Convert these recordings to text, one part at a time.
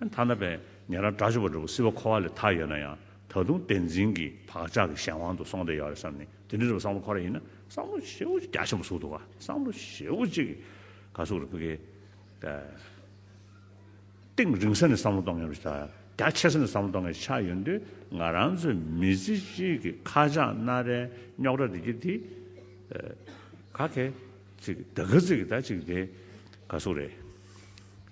ཐ་ན་པན་ཉེ་རང་དགྲ་བཅོམ་པ་འགྲོ་ཀུ་སྲིད་པ་འཁོར་བ་ལས་ཐར་ཡོད་ན་ཡང་ད་དུང་བདེན་འཛིན་གྱི་བག་ཆགས་ཀྱི་གཞན་དབང་དུ་སོང་བསྡད་ཡོད་རེད་བསམ་ནས་དེ་འདྲ་རེད་པ་བསམ་བློ་འཁོར་ར་ཡིན་ན་བསམ་བློ་བྱེད་པོ་རྒྱ་ཆེན་པོ་ཟུག་འདུག་ག་བསམ་བློ་བྱེད་པོ་གཅིག་གིས་ག་ཟུག་ར་བུ་གའི་སྟེང་རིང་ས་ནས་བསམ་བློ་གཏོང་མཁན་ར་རྒྱ་ཆེ་ས་ནས་བསམ་བློ་གཏོང་མཁན་ཆགས་ཡོད་འདུག་ང་རང་ཚོའི་མི་ཚེ་གཅིག་གི་ཁ་ཆག་སྣ་རལ་རྙོག་དྲ་དེ་གི་དེ་ག་གེ་ཚིག་གི་ད་ག་ཚིག་གི་ད་གཅིག་གི་དེ་ག་ཟུག་རེད།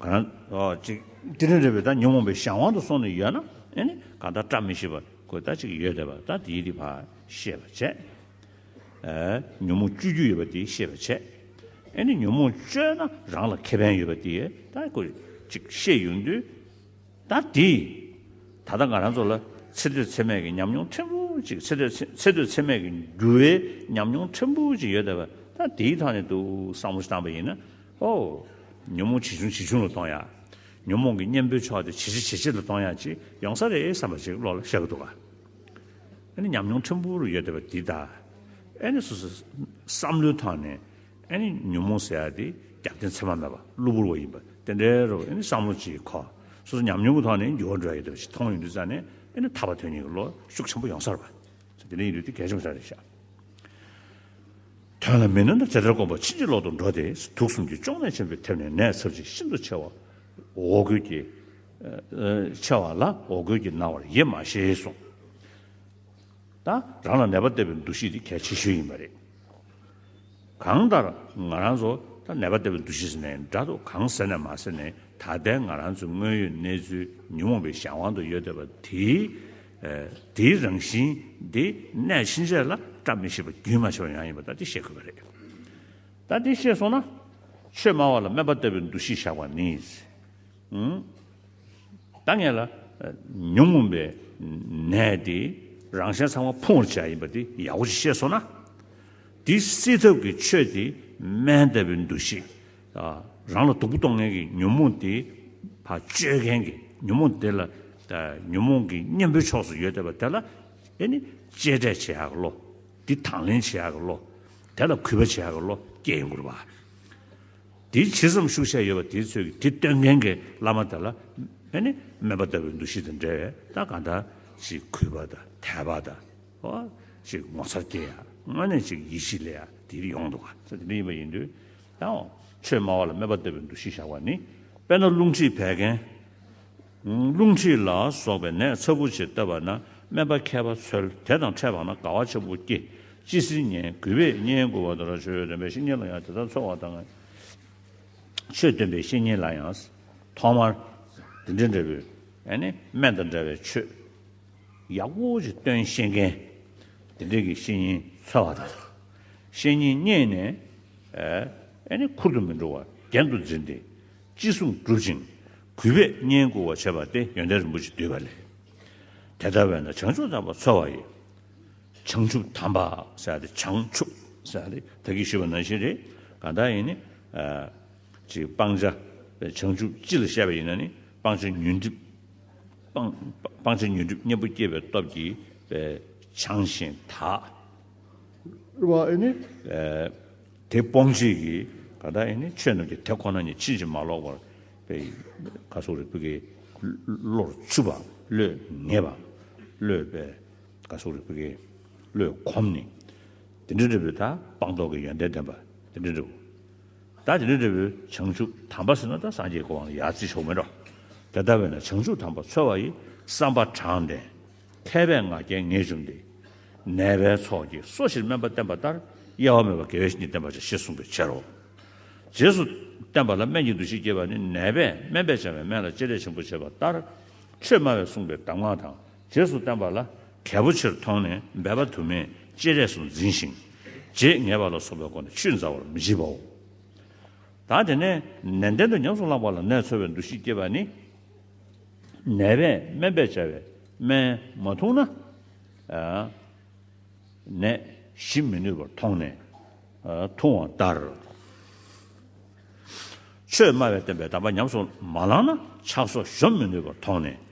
དེ་རིང་རེ་བའི་ད་ཉོན་མོངས་པའི་གཞན་དབང་དུ་སོང་ནས་ཡོད་ན་ཨེ་ནི་གང་ལྟར་བཀྲ་མི་ཤིས་པར་གོས་ད་ཅིག་ཡོད་དེ་བ་ད་དེའི་རིགས་བར་ཤེས་པར་བྱས། ཉོན་མོངས་སྤྱོད་རྒྱུ་ཡོད་པ་དེའི་ཤེས་པར་བྱས། ཨེ་ནི་ཉོན་མོངས་སྤྱོད་ན་རང་ལ་ཁེ་ཕན་ཡོད་པ་དེའི་ད་གོས་ཅིག་ཤེས་ཡོང་དུས། ད་དེ། ད་ལྟ་ང་རང་ཚོ་ལ་ཚེ་སྟོད་ཚེ་སྨད་ཀྱི་ཉམས་མྱོང་ཕྲན་བུ་གཅིག་ཚེ་སྟོད་ཚེ་སྟོད་ཚེ་སྨད་ཀྱི་འགྱུར་བའི་ཉམས་མྱོང་ཕྲན་བུ་གཅིག་ཡོད་ད་བས་ད་དེའི་ཐོག་ནས་ཏུ་བསམ་བློ་བཏང་པ་ཡིན་ན། ཨོ། ཉོན་མོངས་ཇེ་ཆུང་ཇེ་ཆུང་ལ་གཏོང་ཡག། ཉོན་མོངས་ཀྱི་གཉེན་པོའི་ཕྱོགས་དེ་ཇེ་ཆེ་ཇེ་ཆེ་ལ་གཏོང་ཡག་ཅིག་ཡོང་ས་རེད་བསམ་པ་ཞིག་བློ་ལ་ཤར་གི་འདུག་ག་ཨ་ནི་ཉམས་མྱོང་ཕྲན་བུ་རུ་ཡོད་ད་བས་དེ་ད་ཨ་ནི་སོ་སོའི་བསམ་བློའི་ཐོག་ནས། ཨ་ནི་ཉོན་མོངས་ཟད་དེ་རྒྱབ་རྟེན་མཚན་མ་མེད་པ་གློ་བུར་བ་ཡིན་པ་དེ་འདྲའི་རོ་ཨ་ནི་བསམ་བློ་གཅིག་གོ། སོ་སོ་ཉམས་མྱོང་གི་ཐོག་ནས་འགྱུར་བ་འགྲོ་ཡི་འདུག་ཅིག་མཐོང་ཡི་འདུག་རྩ་ནས་ཨ་ནི་ཐར་བ་དོན་གཉིས་ཀྱི་བློ་ཤུགས་ཆེན་པོ་ཡོང་སར་བ། ཚེ་འདི་འདྲ་ཡིན་དུས་དེ་གས་ཆོག་ཆོག་རེད་ཤག། དོན་ལ་མི་གནོད་ན་དེ་ལྟར་དཀོན་པ་ཕྱིན་ཅི་ལོག་ཏུ་འགྲོ་སྟེ་དུག་གསུམ་གྱི་གཅོང་ནད་ཆེན་པོའི་ཐེབས་ནས་ནད་ཚབས་ཆེ་ཤིན་ཏུ་ཆེ་བ། འོ་སྐོལ་གྱི། ཆེ་བ་ལ་འོ་སྐོལ་གྱི་ན་བར་ཡེ་མ་ཤེས་གསུངས། ད་རང་ལ་ནད་པ་བལྟ་བའི་འདུ་ཤེས་དེ་གལ་ཆེ་ཤོས་ཡིན་པ་རེད། གང་ལྟར་ང་རང་ཚོ་ད་ནད་པ་འདི་བའི་འདུ་ཤེས་ཟེར་ནས་འདྲ་འདུག་གང་ཟེར་ནས་མ་ཟེར་ནས་ད་ལྟའི་ང་རང་ཚོའི་དངོས་ཡོད་གནས་ཚུལ་ཉོན་མོངས་པའི་གཞན་དབང་དུ་ཡོད་བསྡད་པ་དེའི་དེའི་རང་བཞིན་དེ་གནས་ཕྱིན་ཆད་ལ་བཀྲ་མི་ཤིས་པ་རྒྱུན་མ་ཆད་པ་ཡང་ཡིན་པ་ད་དེ་ཤེས་དགོས་པ་རེད། ད་དེ་ཤེས་སོང་ན་ཆོས་སྨྲ་བ་ལ་སྨད་པ་ལྟ་བུའི་འདུ་ཤེས་བཞག་པ་ནི། ད་ངེད་ལ་ཉོན་མོངས་པའི་ནད་དེ་རང་གཞན་ཚང་མ་ཕུང་བར་བྱ་ཡིན་པ་དེ་ཡག་པོ་ཞིག་ཤེས་སོང་ན། དེ་སེལ་ཐབས་ཀྱི་ཆོས་དེ་སྨན་ལྟ་བུའི་འདུ་ཤེས། རང་ལ་སྡུག་པོ་གཏོང་མཁན་གྱི་ཉོན་མོངས་དེ་བར་གཅོད་མཁན་གྱི་ཉོན་མོངས་དེ་ལ་ཉོན་མོངས་ཀྱི་གཉེན་པོའི་ཕྱོགས་སུ་ཡོད་བསྡད་པ་དེ་ལ་དེ་ནི་གཅེས་སྤྲས་བྱེད་ཡག་གི་བློ། དེ་དང་ལེན་བྱེད་ཡག་གི་བློ། དེ་ལ་གུས་པ་བྱེད་ཡག་གི་བློ་སྐྱེ་ཡོང་དགོས་རེད་པ། དེའི་ཕྱི་སེམས་ཤུགས་ཆེ་ཡོད་པ་དེའི་ཚོད་ཀྱིས་དེ་སྟོན་མཁན་གྱི་བླ་མ་དེ་ལ་མེ་ནི་སྨན་པ་ལྟ་བུའི་འདུ་ཤེས་དང་འབྲེལ་བའི་རྟགས་གང་དག་ཅིག་གུས་པ་དང་དད་པ་དང། ཧོ། ཅིག་ངོ་མཚར་སྐྱེ་ཡང་དངོས་གནས་ཅིག་ཡིད་བཞིན་ལས་ཡང་དེའི་ཡོང་འདུག་ག་ཚད་དེ་འདྲ་ཡིན་པ་ཡིན་དུས་དང། ཆོས་སྨྲ་བ་ལ་སྨན་པ་ལྟ་བུའི་འདུ་ཤེས་བཞག་པ་ནི་དཔེར་ན་རླུང་མཁྲིས་བད་ཀན། རླུང་མཁྲིས་ལ་སོགས་པའི་ནད་ཚབས་པོ་ཆེ་བཏབ་པ་ན་སྨན་པ་མཁས་པ་ཚོལ་དེ་དང་འཕྲད་པ་ན་དགའ་བ་ཆེན་པོ་སྐྱེ། ཅི་སྲིད་ཉན་གུས་པས་བསྙེན་བཀུར་བ་དང་ར་ཆོས་སྟོན་པའི་བཤེས་གཉེན་ལ་ཡང་དེ་ལྟར་འཚོལ་བ་དང། ཆོས་སྟོན་པའི་བཤེས་གཉེན་ལ་ཡང། ཐོག་མར། འདི་འདྲའི་འབྲས་བུ། ཡང་ནི་སྨན་དང་འདྲ་བའི་ཆོས། ཡག་པོ་ཅིག་སྟོན་ཤེས་མཁན། དེ་འདྲའི་གྱི་བཤེས་གཉེན་འཚོལ་བ་དང། བཤེས་གཉེན་རྙེད་ནས། ཡང་ནི་ཁུར་དུ་མི་འགྲོ་བར་རྒྱན་དུ་འཛིན་ཏེ། ཅི་གསུང་བསྒྲུབ་ཅིང་གུས་པས་བསྙེན་བཀུར་བ་བྱེད་པ་སྟེ་ཡོན་ཏན་རིན་པོ་ཆེ་བསྡུས་པ་ལས། དེ་ལྟ་བས་ན་བྱང་ཆུབ་དམ་པ་འཚོལ་བ་ཡི། བྱང་ཆུབ་དམ་པ་སེ་སྟེ་བྱང་ཆུབ་སེ་སྟེ་ད་གིས་ཞུས་པ་ནང་བཞིན་རེད། གང་དག་ཡིན་ནི། ཅིག་སྤང་བྱ། བྱང་ཆུབ་སྤྱི་ལ་བཤད་པ་ཡིན་ན་ནི་སྤང་བྱ་ཉོན་སྒྲིབ། སྤང་བྱ་ཉོན་སྒྲིབ་གཉེན་པོ་སྐྱེས་པའི་སྟོབས་ཀྱིས་བྱང་ཞིང་དག། བ་ནི། དེ་སྤོང་བྱེད་ཀྱི་ག་དག་ཡིན་ནི་ཆོས་རྣམས་ཀྱི་དེ་ཁོ་ན་ཉིད་ཕྱིན་ཅི་མ་ལོག་པར་པའི་ག་སོགས་རིག་པའི་ཀའི་བློར་ཆུད་པ་བློས་ངེས་པ་བློས་པའི་ག་སོགས་རིག་པའི་ཀའི་བློས་གོམས་ནི། དེ་འདྲའི་འབྲས་བུས་དག་སྤང་རྟོགས་ཀྱི་ཡོན་ཏན་ལྡན་པ་དེ་འདྲའི་འབྲས་བུ། དག་དེ་འདྲའི་འབྲས་བུ་བྱང་ཆུབ་དམ་པ་ཟིན་ན་དག་སངས་རྒྱས་ཀྱི་དབང་ལ་ཡར་བརྩི་ཆོག་མི་འགྲོ། དེ་ལྟ་བས་ན་བྱང་ཆུབ་དམ་པ་ཚོལ་བ་ཡི་བསམ་པ་དྲང་བདེན། མཁས་པའི་ང་རྒྱལ་ངེས་འབྱུང་སྟེ། ནད་པའི་ཚོགས་ཀྱིས་སོ་བཞིར་སྨན་པ་བསྟེན་པ་ལྟར་གཡེལ་བ་མེད་པར་དགེ་བའི་བཤེས་གཉེན་བསྟེན་པར་བྱ་ཞེས་གསུངས་པའི་ཕྱིར་རོ། རྗེས་སུ་བསྟེན་པ་ལ་སྨན་གྱི་འདུ་ཤེས་སྐྱེས་པ་ནི་ནད་པས་སྨན་པས་བྱ་བའི་སྨན་ལ་སྤྱི་ལས་ཆེན་པོ་བྱེད་པ་ལྟར། ཆོས་སྨྲ་བས་གསུངས་པའི་གདམས་ངག་དང་རྗེས་སུ་བསྟེན་པ་ལ་གལ་པོ་ཆེར་མཐོང་ནས་འབད་པ་དུ་མས་ཅི་རེག་སུ་འཛིན་ཞིང། རྗེས་ངེས་པ་ལ་སོགས་པའི་སྒོ་ནས་ཆུད་འཛའ་བར་མི་བྱེད་པའོ། དང་དེ་ནས་ནན་ཏན་དུ་ཉམས་སུ་བླངས་པ་ལ་ནད་འཚོལ་བའི་འདུ་ཤེས་སྐྱེས་པ་ནི། ནད་པས་སྨན་པས་བྱ་བའི་སྨན་མ་འཐུངས་ན། ནད་ཞི་མི་ནུས་པར་མཐོང་ནས་འཐུང་བ་ལྟར། ཆོས་སྨྲ་བས་སྟོན་པའི་གདམས་པ་ཉམས་སུ་མ་བླངས་ན་ཆགས་སོགས་གཞོམ་མི་ནུས་པར་མཐོང་ནས།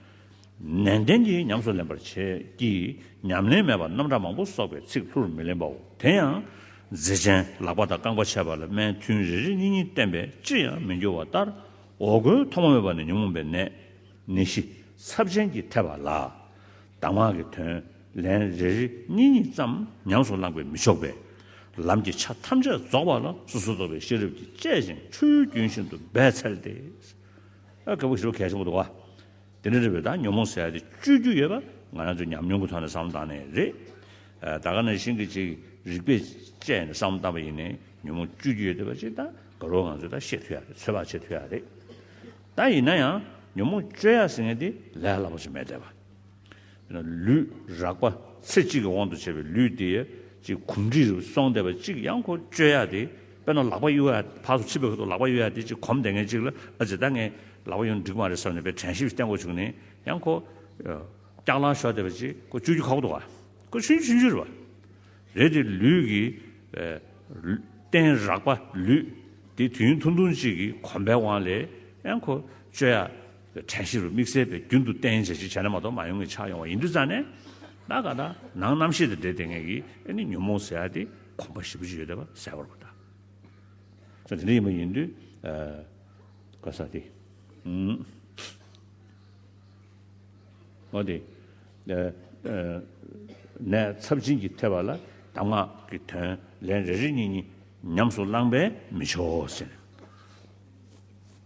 ནན་ཏན་གྱིས་ཉམས་སུ་ལེན་པར་བྱེད་ཀྱི། ཉམས་ལེན་མེད་པར་རྣམ་གྲངས་མང་པོ་གསོག་པའི་ཚིག་ལྷུར་མི་ལེན་པའོ། དེ་ཡང་རྫས་ཅན་ལག་པ་དང་རྐང་པ་ཆད་པ་ལ་སྨན་ཐུན་རེ་རེ་གཉིས་གཉིས་བསྟེན་པས་ཅིར་ཡང་མི་འགྱུར་བ་ལྟར། འོ་སྐོལ་ཐོག་མ་མེད་པ་ནི་ཉོན་མོངས་པའི་ནད། ནད་གཞི་ཚབས་ཆེན་གྱི་ཐེབས་པ་ལ། གདམས་ངག་གི་དོན་ལན་རེ་རེ་གཉིས་གཉིས་ཙམ་ཉམས་སུ་བླངས་པས་མི་ཆོག་པས། ལམ་གྱི་ཆ་ཐམས་ཅད་རྫོགས་པ་ལ་སོ་སོར་རྟོག་པའི་ཤེས་རབ་ཀྱིས་དཔྱད་ཅིང་ཆོས་རྒྱུན་བཞིན་དུ་འབད་འཚལ་ཏེ། དེ་ནི་རེ་བའི་དང་ཉོན་མོངས་ཟད་དེ་སྤྱོད་རྒྱུ་ཡོད་པ་ང་རང་ཚོའི་ཉམས་མྱོང་གི་ཐོག་ནས་བསམ་བློ་བཏང་ནས་རེད། ད་ག་ནང་བཞིན་གྱི་ཅིག་རིག་པས་དཔྱད་ནས་བསམ་བློ་བཏང་བ་ཡིན་ནའི་ཉོན་མོངས་སྤྱོད་རྒྱུ་ཡོད་དེ་བ་ཅིག་ད་ག་རོ་ང་ཚོས་ད་ཤེས་ཐུ་ཡ་རེད་ཚོད་དཔག་བྱེད་ཐུ་ཡ་རེད། ད་ཡིན་ན་ཡང་ཉོན་མོངས་སྤྱོད་ཡ་ཟེར་ངེས་དེ་ལས་སླ་པོ་ཅིག་མེད་དེ་བ། ལུས་རགས་པ་ཚེ་གཅིག་གི་དབང་དུ་བྱས་པའི་ལུས་དེ་གཅིག་གོམས་འདྲིས་རུ་སོང་བསྡད་པ་གཅིག་ཡང་ཁོ་བཅོས་ཡག་དེ་དཔེར་ན་ལག་པ་གཡུ་ཡག་བག་སུ་ཆིབས་པའི་ཁུ་ཐུག་ལག་པ་གཡུ་ཡག་དེ་གཅིག་གོམས་བསྡད་མཁན་གཅིག་ལ་ཨ་ཇི་ད་ངའི་ལག་པ་གཡུ་འགྲིག་མ་རེད་བསམ་ནས་པའི་དྲན་ཤེས་བསྟན་འགོ་བྱུང་ནས་ཡང་ཁོ་སྐྱག་ལང་ཤོར་བསྡད་པ་གཅིག་ཁོ་བཅོས་རྒྱུ་ཁག་པོ་འདུག་ག་ཁོ་ཆུན་ཆུན་ཆུན་རེད་པ་རེད་དེ་ལུས་ཀྱི་སྟེང་རགས་པ་ལུས་དེ་དུས་ཡུན་ཐུང་ཐུང་གཅིག་གི་གོམས་པའི་དབང་ལས་ཡང་ཁོ་བཅོས་ཡག། གྲལ་བཤེར་རུ་དམིགས་བསལ་བས་རྒྱུན་དུ་བརྟན་འཇགས་ཅིག་བྱས་ན་མ་གཏོགས་མ་ཡོང་ངེས་ཆགས་ཡོང་བ་ཡིན་དུས་རྩ་ནས། ད་ག་ད་ནང་རྣམ་ཤེས་དང་འབྲེལ་ལྡན་ངེས་ཀྱིས་ཨེ་ནི་ཉོན་མོངས་ཟེར་ཡ་དེ་གོམས་པ་ཞིབ་པོ་ཅིག་ཡོད་དེ་བ་གསལ་བར་གོ་ད། ཚོ་དེ་འདྲ་ཡིན་པ་ཡིན་དུས། ག་ས་དེ། མོ་དེ། ནས་ཚབ་བྱིན་གྱིས་ཐེབས་པ་ལ་གདམས་ངག་གི་དོན་ལན་རེ་རེ་གཉིས་གཉིས་ཉམས་སུ་བླངས་པས་མི་ཆོག་ཟེར།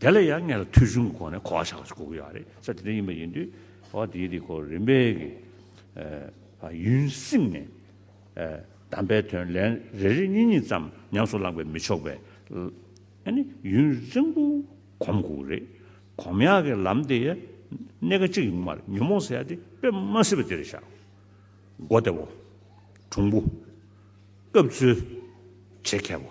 དེ་ལ་ཡང་ངེད་ལ་ཐོས་ཆུང་གི་སྒོ་ནས་གོ་བ་ཆགས་པ་ཞིག་གོ་གི་ཡོད་རེད་ས་དེ་འདྲ་ཡིན་པ་ཡིན་དུས་གོ་བ་དེའི་རིགས་གོ་རིམ་པས་ཀྱི་ཡུན་བསྲིངས་ནས་གདམས་པའི་དོན་ལན་རེ་རེ་གཉིས་གཉིས་ཙམ་ཉམས་སུ་བླངས་པས་མི་ཆོག་པས་ནི་ཡུན་རིང་པོ་གོམས་དགོས་རེད། གོམས་ཡག་གི་ལམ་དེ་གནད་ཀ་གཅིག་ཡིན་མ་རེད་ཉོན་མོངས་ཟེར་ཡག་དེ་དཔེ་མ་སྲིད་པ་དེ་རེད་བཞག་མགོ་བདེ་བོ། གྲུང་པོ། སྐབས་འཚོལ་བྱེད་མཁས་པོ།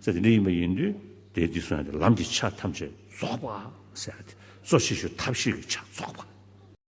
ཚེ་འདི་འདི་ཡིན་པ་ཡིན་དུས་དེས་འདི་གསོན་ཏེ་ལམ་གྱི་ཆ་ཐམས་ཅད་རྫོགས་པ། གསོ་བྱེད་ཞུ་ཐབས་ཤེས་ཀྱི་ཆ་རྫོགས་པ།